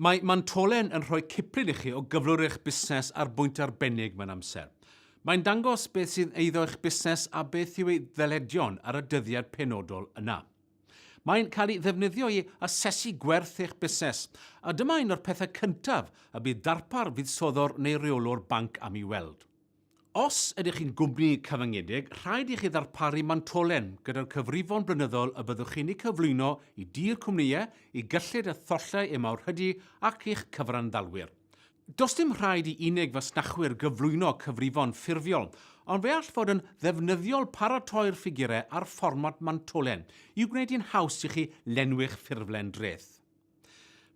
Mae Mantolen yn rhoi ciplun i chi o gyflwr eich busnes ar bwynt arbennig mewn amser. Mae'n dangos beth sydd eiddo eich busnes a beth yw ei ddyledion ar y dyddiad penodol yna. Mae'n cael ei ddefnyddio i asesu gwerth eich busnes, a dyma un o'r pethau cyntaf y bydd darpar fuddsoddwr neu reolwr banc am ei weld. Os ydych chi'n gwmni cyfyngedig, rhaid i chi ddarparu mantolen gyda'r cyfrifon blynyddol y byddwch chi'n eu cyflwyno i dir cwmnïau i gyllid a thollau eu mawrhydi ac i'ch cyfranddalwyr. Does dim rhaid i unig fasnachwyr gyflwyno cyfrifon ffurfiol, ond fe all fod yn ddefnyddiol paratoi'r ffigurau a'r fformat mantolen i wneud hi'n haws i chi lenwi'ch ffurflen dreth.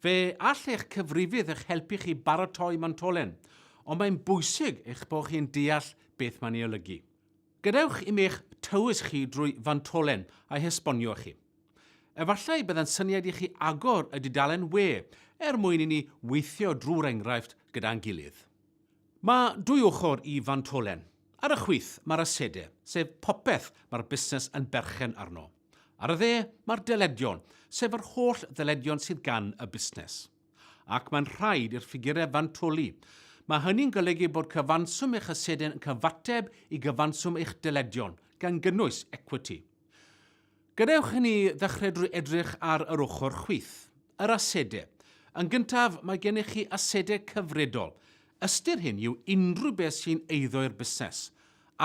Fe all eich cyfrifydd eich helpu chi baratoi mantolen, ond mae'n bwysig eich bod chi'n deall beth mae'n ei olygu. Gadewch i mi eich tywys chi drwy fantolen a'i hesbonio i chi. Efallai byddai'n syniad i chi agor y dudalen we er mwyn i ni weithio drwy'r enghraifft gyda'n gilydd. Mae dwy ochr i fantolen. Ar y chwith, mae'r asedau, sef popeth mae'r busnes yn berchen arno. Ar y dde, mae'r dyledion, sef yr holl ddyledion sydd gan y busnes. Ac mae'n rhaid i'r ffigurau fantoli. Mae hynny'n golygu bod cyfanswm eich aseden yn cyfateb i gyfanswm eich dyledion, gan gynnwys equity. Gadewch i ni ddechrau drwy edrych ar yr ochr chwith, yr asedau. Yn gyntaf, mae gennych chi asedau cyfredol, Ystyr hyn yw unrhyw beth sy'n eiddo i'r busnes,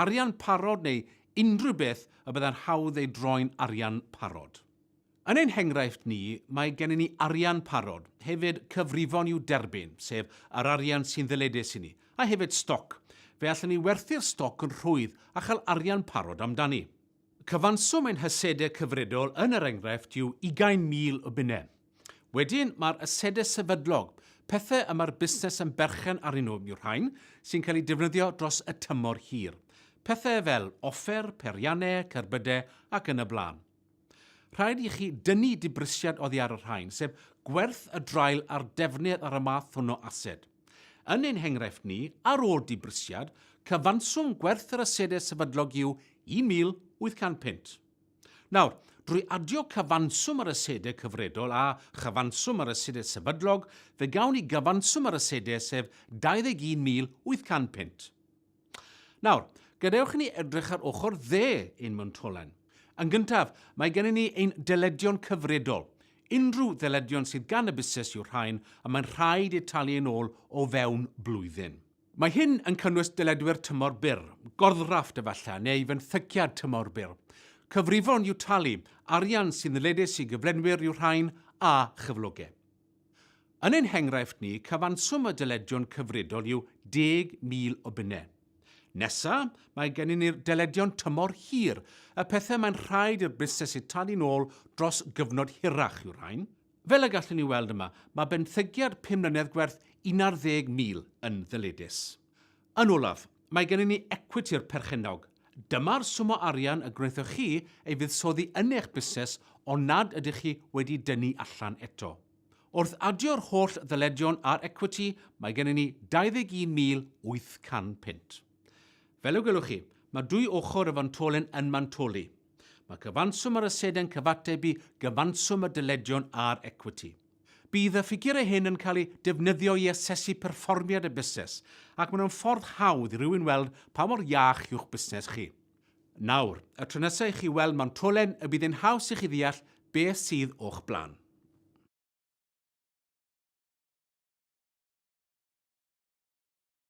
arian parod neu unrhyw beth y byddai'n hawdd ei droi'n arian parod. Yn ein henghraifft ni, mae gennym ni arian parod, hefyd cyfrifon i'w derbyn, sef yr arian sy'n ddyledus i ni, a hefyd stoc. Fe allwn ni werthu'r stoc yn rhwydd a chael arian parod amdani. Cyfanswm ein hasedau cyfredol yn yr enghraifft yw 20,000 o bunnau. Wedyn, mae'r asedau sefydlog, pethau y mae'r busnes yn berchen arnyn nhw yw'r rhain sy'n cael eu defnyddio dros y tymor hir. Pethau fel offer, peiriannau, cerbydau ac yn y blaen. Rhaid i chi dynnu dibrisiad oddi ar y rhain, sef gwerth y draul a'r defnydd ar y math hwn o ased. Yn ein henghraifft ni, ar ôl dibrysiad, cyfanswm gwerth yr asedau sefydlog yw 1,800 punt. Nawr, drwy adio cyfanswm yr asedau cyfredol a chyfanswm yr asedau sefydlog, fe gawn ni gyfanswm yr asedau sef 21,800 punt. Nawr, gadewch i ni edrych ar ochr dde ein myntolen. Yn gyntaf, mae gennym ni ein deledion cyfredol. Unrhyw ddeledion sydd gan y busnes yw'r rhain y mae'n rhaid eu talu yn ôl o fewn blwyddyn. Mae hyn yn cynnwys deledwyr tymor byr, gorddrafft efallai, neu fenthyciad tymor byr. Cyfrifon i'w talu, arian sy'n ddyledus i gyflenwyr yw'r rhain, a chyflogau. Yn ein henghraifft ni, cyfanswm y dyledion cyfredol yw 10,000 o bunnau. Nesa, mae gennym ni'r dyledion tymor hir, y pethau mae'n rhaid i'r busnes eu talu'n ôl dros gyfnod hirach yw'r rhain. Fel y gallwn ni weld yma, mae benthyciad pum mlynedd gwerth 11,000 yn ddyledus. Yn olaf, mae gennym ni ecwiti'r perchennog. Dyma'r swm o arian y gwnaethoch chi ei fuddsoddi yn eich busnes ond nad ydych chi wedi dynnu allan eto. Wrth adio'r holl ddyledion a'r ecwiti, mae gennym ni 21,800 punt. Fel y gwelwch chi, mae dwy ochr y fantolen yn mantoli. Mae cyfanswm yr asedau'n cyfateb i gyfanswm y dyledion a'r ecwiti. Bydd y ffigurau hyn yn cael eu defnyddio i asesu perfformiad y busnes ac maen nhw'n ffordd hawdd i rywun weld pa mor iach yw'ch busnes chi. Nawr, y tro nesaf i chi weld Montolen y bydd yn haws i chi ddeall beth sydd o'ch blaen.